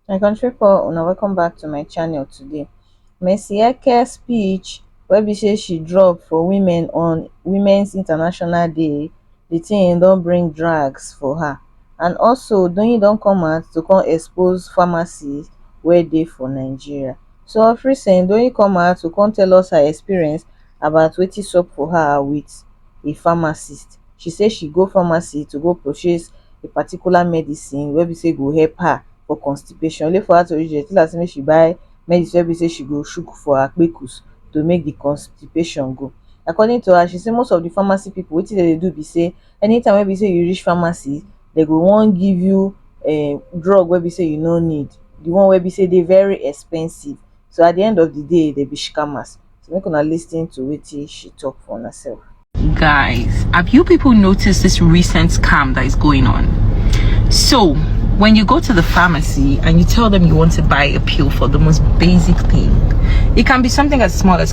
my country pipo una welcome back to my channel today mercy eke speech wey be say she drop for women on women's international day di tin don bring drags for her and also doyin don come out to come expose pharmacy wey dey for nigeria so ofrisen don come out to come tell us her experience about wetin sup for her with a pharmacist she say she go pharmacy to go purchase a particular medicine wey be say go help her for constipation only for her to reach there tell her say make she buy medicine wey be say she go shook for her kpekus to make the constipation go according to her she say most of the pharmacy people wetin dem dey do be say anytime wey be say you reach pharmacy dey go wan give you um drug wey be sey you no need, di one wey be sey dey very expensive, so at di end of di day dey be shikamas, so make una lis ten to wetin she talk for una self. Guys, have you people noticed this recent scam that is going on? So, when you go to the pharmacy and you tell them you want to buy a pill for the most basic thing, it can be something as small as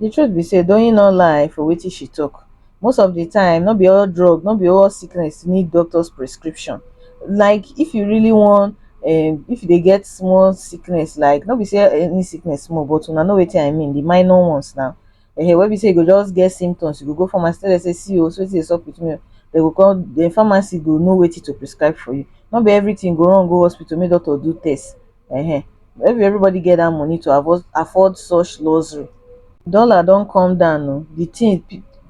The truth be say Doyin no lie for wetin she talk. Most of the time, no be all drug, no be all sickness need doctor's prescription. Like if you really want, um, if you dey get small sickness, like no be say any sickness small, but una know wetin I mean, the minor ones now. Ehen, wey be say you go just get symptoms, you go go pharmacy tell them say see o, so wetin dey sup with me o. They go come, the pharmacy go know wetin to prescribe for you. No be everything go run go hospital make doctor do test. um no be everybody get that money to afford afford such luxury dollar don come down o the thing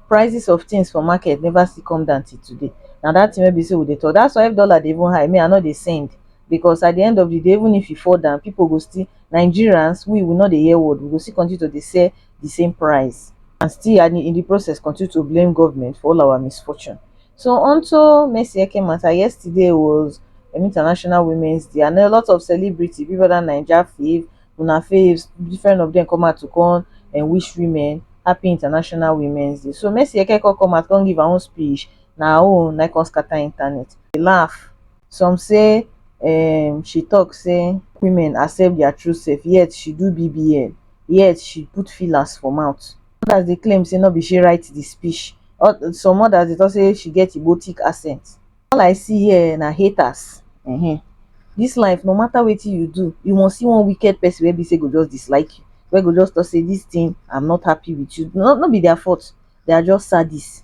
prices of things for market never still come down till today na that thing wey be say we dey talk that's why if dollar dey even high me i no dey send because at the end of the day even if e fall down people go still Nigerians we we no dey hear word we go still continue to dey sell di same price and still and in di process continue to blame goment for all our misfortune so on to mercy eke mata yesterday was um international women's day and a lot of celebrity people dat naija fave una faves different of dem come out to come um wish women happy international women's day so mercy eke come come out come give her own speech na her own na im come scatter internet laugh some say um she tok say women accept dia true sef yet she do bbl yet she put fillers for mouth odas dey claim say no be she write di speech some odas dey tok say she get igbo tic accent all i see here na haters um dis life no mata wetin you do you must see one wicked pesin wey be say go just dislike you wey go just tok say dis tin am not happy wit you no be dia fault dey are just sadist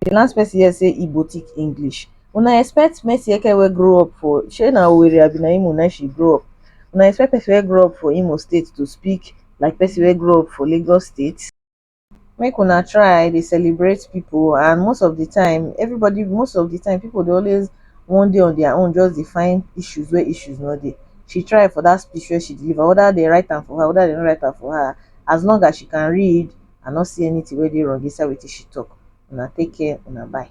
the last person here say Igbo thick English. Una expect Mercy Eke wey grow up for shey na Owerri abi na Imo na she grow up. Una expect person wey grow up for Imo state to speak like person wey grow up for Lagos state? Make una try dey celebrate people and most of the time everybody most of the time people dey always wan dey on their own just dey find issues where issues no dey. She try for that speech wey she deliver whether they write am for her whether they no write am for her as long as she can read I no see anything wey dey wrong inside wetin she talk. Una take care, una bye.